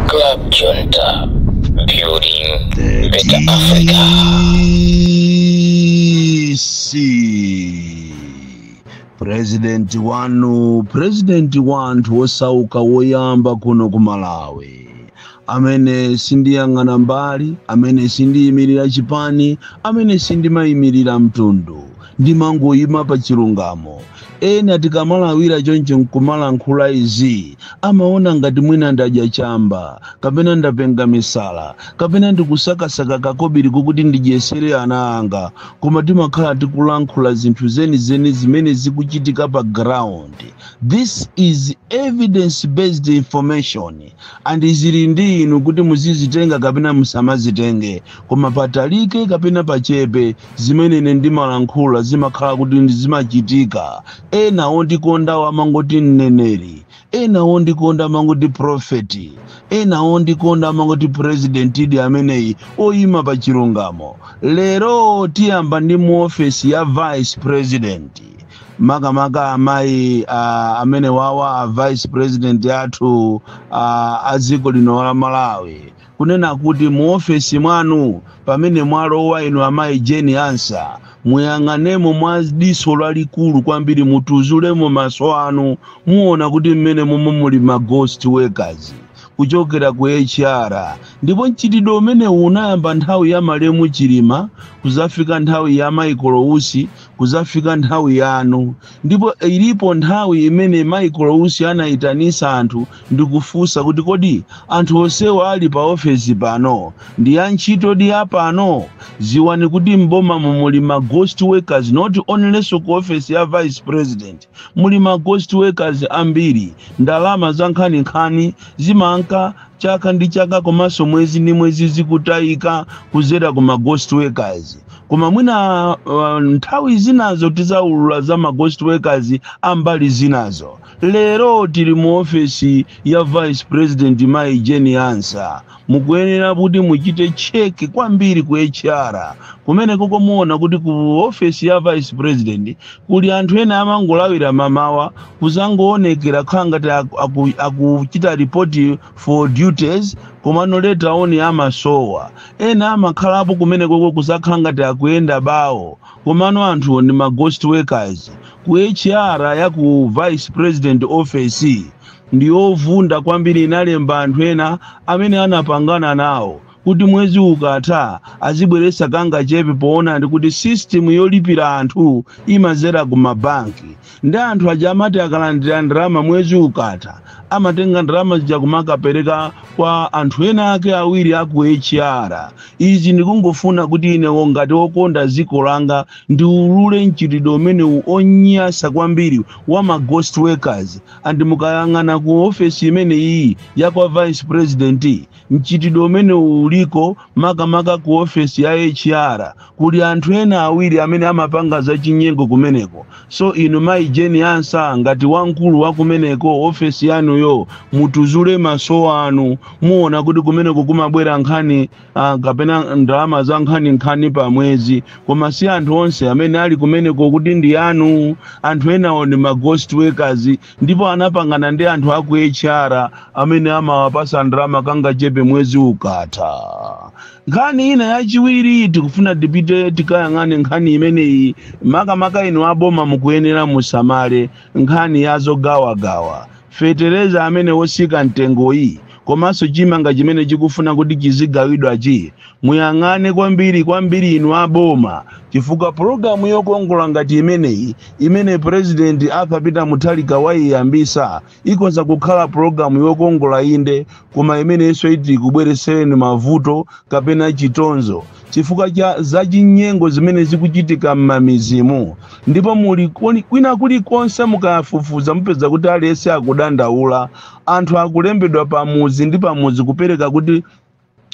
Klab Junta, building better Africa. Isi. President wanu, president wanthu osauka woyamba kuno ku Malawi. amene sindiyang'ana mbali amene sindiyimirira chipani amene sindimayimirira mtundu ndimangoyima pa chilungamo ena tikamalawira choncho nkumalankhula izi amaona ngati mwina ndadya chamba kapena ndapenga misala kapena ndikusakasaka kakobiri kokuti ndidyesere ana anga koma timakhala tikulankhula zinthu zenizeni zimene zikuchitika pa ground this is evidence based information And zili ndi inu kuti muzizitenga kapena musamazitenge. Koma patalike kapena pachepe zimene ine ndimalankhula zimakhala kuti ndi zimachitika. Ena ondikondawo amangoti mneneri, ena ondikonda amangoti prophet, ena ondikonda amangoti presidentidi ameneyu oyima pa chilungamo. Lero tiyamba ndi mu office ya vice president. makamaka amayi uh, amene wawa a vice president athu uh, a dziko lino la malawi kunena kuti mu ofesi mwanu pamene mwalowa inu amayi Jane Ansah muyang'anemo mwa diso lalikulu kwambiri mutuzulemo maso anu muona kuti mmene momwe muli ma ghost workers kuchokera ku HR ndipo mchitidwe umenewu unayamba nthawi ya malemu Chilima kuzafika nthawi ya Michael Usi Kuzafika nthawi yanu ndipo ilipo nthawi imene Michael Usi anaitanisa anthu ndikufunsa kuti kodi anthu onsewa ali pa ofesi pano ndi antchitodi a pano? Ziwani kuti m'bomamu muli ma ghost workers not only so ku ofesi ya vice president. Muli ma ghost workers ambiri. Ndalama zankhaninkhani zimanka chaka ndi chaka komanso mwezi ndi mwezi zikutaika kuzera ku ma ghost workers. Koma mwina nthawi zinazo tizaulula za ma ghost workers a mbali zinazo. Lero tili mu ofesi ya Vice President Mayi Jane Ansah. Mukuyenera kuti muchite check kwambiri ku HR kumenekoko muona kuti ku office ya vice president kuli anthu ena amangolawira mamawa kuzangoonekera kukhala ngati akuchita report for duties komano later on amasowa. Ena amakhalapo kumenekoko kuzakhala ngati akuyenda bawo komano anthuwo ndi ma ghost workers. Ku HR ya ku vice president office ndi yovunda kwambiri inalemba anthu ena amene anapangana nawo kuti mwezi ukatha azibweretsa kangachepe poona ndi kuti system yolipira anthu imazera ku mabanki ndi anthu aja amati akalandira ndalama mwezi ukatha amatenga ndalama zija kumakapereka kwa anthu ena ake awiri aku HR izi ndikungofuna kuti inewo ngati wokonda dziko langa ndiulule mchitidwe umenewu onyansa kwambiri wa ma ghost workers and mukayang'ana ku ofesi imene iyi ya kwa vice president, mchitidwe umenewu uliko makamaka ku ofesi ya HR kuli anthu ena awiri amene amapanga za chinyengo kumeneko so inu mayi Jane Ansah ngati wamkulu wa kumeneko ofesi yanuyo mutuzule maso anu muona kuti kumeneko kumabwera nkhani kapena ndalama za nkhaninkhani pa mwezi koma si anthu onse amene ali kumeneko kuti ndi anu anthu enawo ndi ma ghost workers ndipo anapangana ndi anthu a ku hr amene amawapasa ndalama kangachepe mwezi ukatha nkhani ina yachiwiri tikufuna tipite tikayang'ane nkhani imeneyi makamaka inu aboma mukuyenera musamale nkhani ya zogawagawa fetereza amene wosika mtengoyi komanso chimanga chimene chikufuna kuti chizigawidwachi muyang'ane kwambiri kwambiri inu aboma chifukwa pulogalamu yokongola ngati imeneyi imene purezidenti Arthur Peter Mutharika wayiyambisa ikhoza kukhala pulogalamu yokongola inde koma imeneyinso iti kubweresereni mavuto kapena chitonzo chifukwa cha zachinyengo zimene zikuchitika m'mamizimu ndipo muli kwina kulikonse mukafufuza mupeza kuti aliyense akudandaula anthu akulembedwa pamudzi ndi pamudzi kupezeka kuti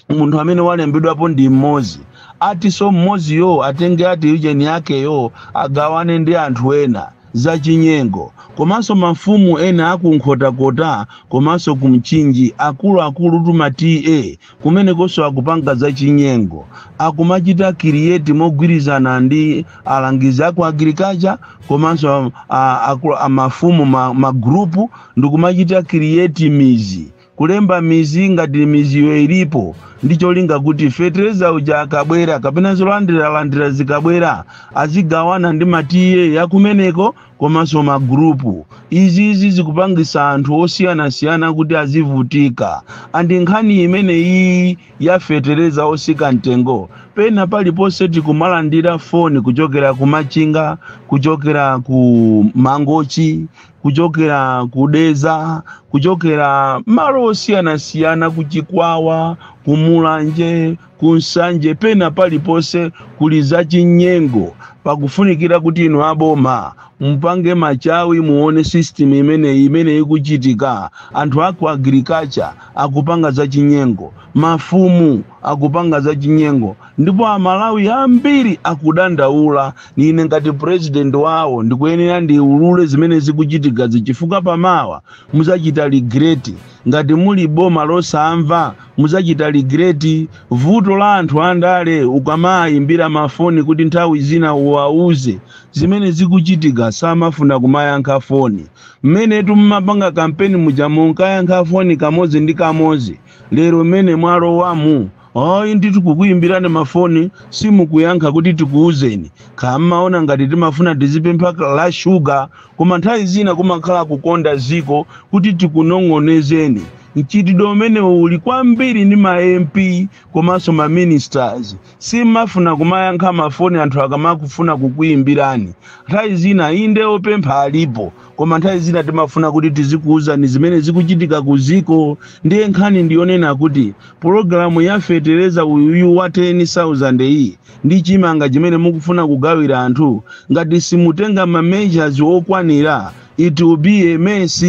munthu amene walembedwapo ndi mmodzi atinso mmodziyo atenge ati ujeni yakeyo agawane ndi anthu ena zachinyengo komanso mafumu ena aku Nkhotakota komanso ku Mchinji akuluakulu tuma TA Kumenekonso akupanga zachinyengo, akumachita create mogwirizana ndi alangizi aku agriculture komanso a, a, a mafumu ma, ma group ndikumachita create mizi kulemba mizi ngati miziyo ilipo ndi cholinga kuti fetereza uja akabwera kapena zolandiralandira zikabwera azigawana ndi ma TA yakumeneko komanso magurupu izizi zikupangisa anthu osiyanasiyana kuti azivutika and nkhani imene iyi yafetereza osika mtengo pena paliponse tikumalandira foni kuchokera ku Machinga kuchokera ku Mangochi kuchokera ku Dedza kuchokera malo osiyanasiyana ku Chikwawa ku Mulanje ku Nsanje pena paliponse kuli zachinyengo pakufunikira kuti inu aboma mupange machawi muone system imeneyi imene ikuchitika anthu aku agriculture akupanga zachinyengo mafumu akupanga zachinyengo ndipo amalawi ambiri akudandaula ine ngati president wawo ndikuyenera ndiulule zimene zikuchitika chifukwa pamawa muzachita regret ngati muli boma losamva Mudzachita regret vuto la anthu andale ukamaayimbira ma phone kuti nthawi zina uwauze zimene zikuchitika samafuna kumayankha phone. Mmenetu mumapanga campaign muja munkayankha phone kamodzi ndi kamodzi lero mmene mwalowamu ayi ndithu kukuyimbirani ma phone simukuyankha kuti tikuuzeni. Kaya mumaona ngati timafuna tizipempha la sugar Koma nthawi zina kumakhala kukonda dziko kuti tikunong'onezeni. Mchitidwe umene uli kwambiri ndi ma MP komanso ma ministers. Sim'mafuna kumayankha ma foni anthu akamakufuna kukuyimbirani. Nthawi zina inde opempha alipo koma nthawi zina timafuna kuti tizikuwuzani zimene zikuchitika ku dziko. Ndiye nkhani ndi yonena kuti pulogalamu ya fetereza uyuyu wa 10,000 iyi, ndi chimanga chimene mukufuna kugawira anthu ngati simutenga ma measures okwanira it will be a mess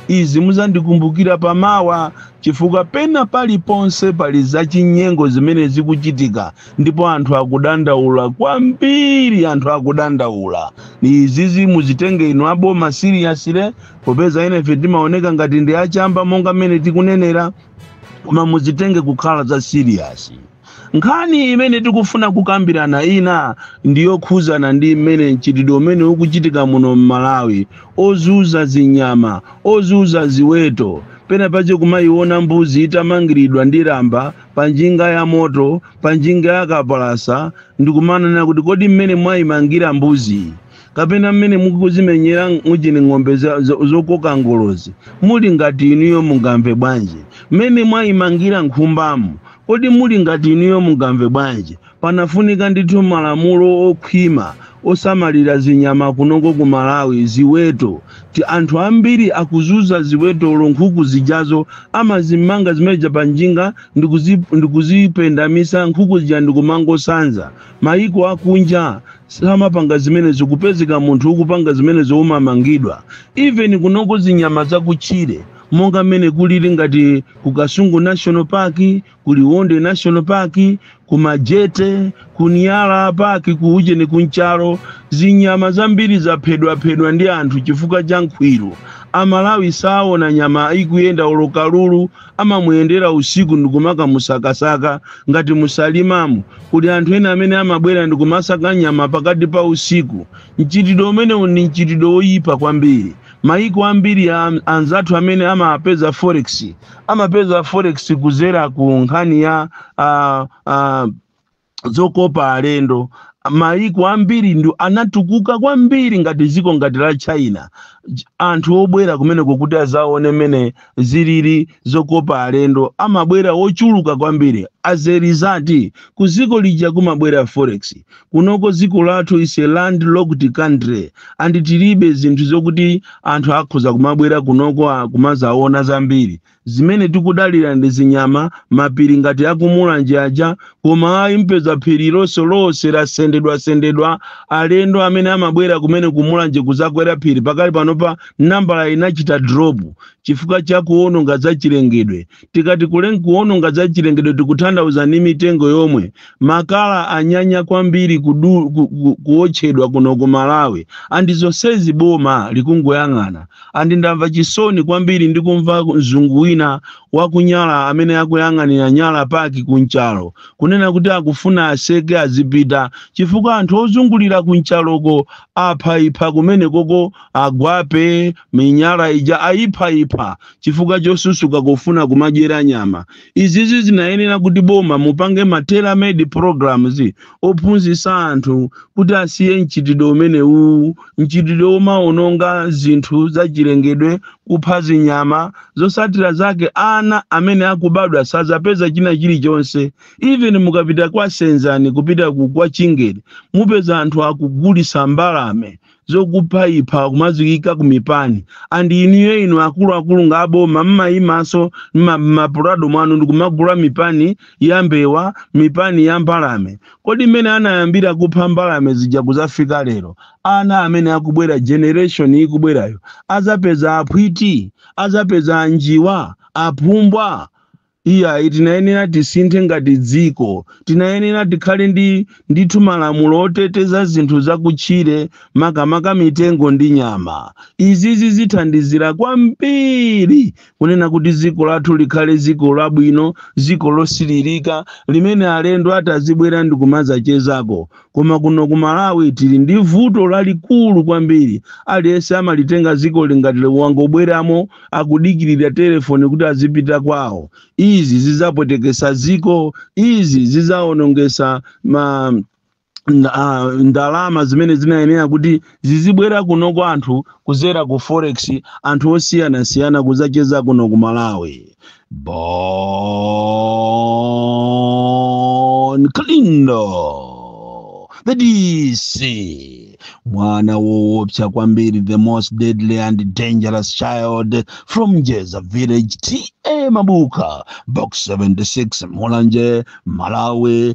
izi muzandikumbukira pamawa chifukwa pena paliponse pali zachinyengo zimene zikuchitika ndipo anthu akudandaula kwambiri anthu akudandaula izizi muzitenge inu aboma seriously popeza enafe timaoneka ngati ndi achamba monga mmene tikunenera koma muzitenge kukhala za serious Nkhani imene tikufuna kukambirana ina ndi yokhudzana ndi mmene mchitidwe umene ukuchitika muno m'Malawi ozuza zinyama, ozuza ziweto, pena pache kumaiona mbuzi itamangiridwa ndi lamba pa njinga ya moto, pa njinga ya kapalasa, ndikumanena kuti kodi mmene mwaimangira mbuziyi kapena mmene mukuzimenyera mujini ng'ombe zokoka ngolozi muli ngati inuyo mungamve bwanji mmene mwayimangira nkhumbamu kodi muli ngati inuyo mungamve bwanji panafunika ndithu malamulo okhwima osamalira zinyama kunoko ku malawi ziweto ti anthu ambiri akuzuza ziwetolo nkhuku zijazo amazimanga zimeja pa njinga ndikuzipendamitsa nkhuku zija ndikumangosanza mayiko akunja samapanga zimenezo kupezeka munthu ukupanga zimenezo umamangidwa even kunoko zinyama zakutchire monga mmene kulili ngati ku kasungu national park ku liwonde national park ku majete ku nyala park ku ujeni ku nchalo zinyama zambiri zaphedwaphedwa ndi anthu chifukwa cha nkhwiru amalawi saona nyama ikuyenda olo kalulu amamuyendera usiku ndikumakamusakasaka ngati musalimamo kuli anthu ena amene amabwera ndikumasaka nyama pakati pa usiku mchitidwe umenewu ndi mchitidwe woyipa kwambiri mayiko ambiri ya anzathu amene amapeza forex amapeza forex kuzera ku nkhani ya uh, uh, zokopa alendo mayiko ambiri ndiwo anatukuka kwambiri ngati dziko ngati la china Ch- anthu obwera kumeneko kuti azaone mmene zilili zokopa alendo amabwera ochuluka kwambiri as a result ku dziko lija kumabwera forex kunoko dziko lathu is a landlocked country and tilibe zinthu zokuti anthu akhoza kumabwera kunoko ah, kumazaona zambiri Zimene tikudalira ndi zinyama, mapiri ngati a ku Mulanje aja, koma ayi mupeza phiri ilo lonse lasendedwasendedwa. Alendo amene amabwera kumene ku Mulanje kudzakwera phiri pakali panopa nambala inachita drop chifukwa cha kuwononga zachilengedwe. Tikati kuwononga zachilengedwe tikuthandauza ndi mitengo yomwe makala anyanya kwambiri kudu, ku, ku, kuotchedwa kuno ku malawi and zonsezi boma likungoyang'ana and ndamva chisoni kwambiri ndikumva mzungu wina waku Nyala amene akuyang'anira Nyala Park ku Nchalo kunena kuti akufuna aseke azipita chifukwa anthu ozungulira ku Nchaloko aphaipha kumenekoko agwape minyala ija ayiphayipha chifukwa chosusuka kufuna kumadyera nyama izizi zinayenera kuti boma mupange ma tailor made programs ophunzitsa anthu kuti asiye mchitidwe umenewu mchitidwe omaononga zinthu zachilengedwe kupha zinyama zotsatira zake ana amene akubadwa sadzapeza china chilichonse even mukapita kwa senzani kupita ku kwa chingeni mupeza anthu akugulitsa mbalame zokuphaipha kumaziika ku mipani and inuyo inu akuluakulu ngati aboma mmayimanso mma- ma Prado mwanu ndikumagula mipani ya mbewa mipani ya mbalame kodi mmene anayambira kupha mbalame zija kuzafika lero ana amene akubwera generation ikubwerayo azapeza aphwiti azapeza anjiwa aphumbwa Iyayi, tinayenera tisinthe ngati dziko. Tinayenera tikhale ndi ndithu malamulo oteteza zinthu zakutchire, makamaka mitengo ndi nyama. Izizi zithandizira kwambiri kunena kuti dziko lathu likhale dziko labwino, dziko losilirika limene alendo atazibwera ndikumadzachezako. Koma kuno ku Malawi tili ndi vuto lalikulu kwambiri. Aliyense amalitenga dzikoli ngati wangobweramo, akudikirira telefoni kuti azipita kwawo. Izi zidzapweteketsa dziko. Izi zidzawonongetsa ma, nda, ah, ndalama zimene zinayenera kuti zizibwera kuno kwa anthu kuzera ku forex anthu osiyanasiyana kuzacheza kuno ku malawi bon kalindo the dc mwana woopsa kwambiri the most deadly and dangerous child from jeza village ta mabuka box 76 mulanje malawi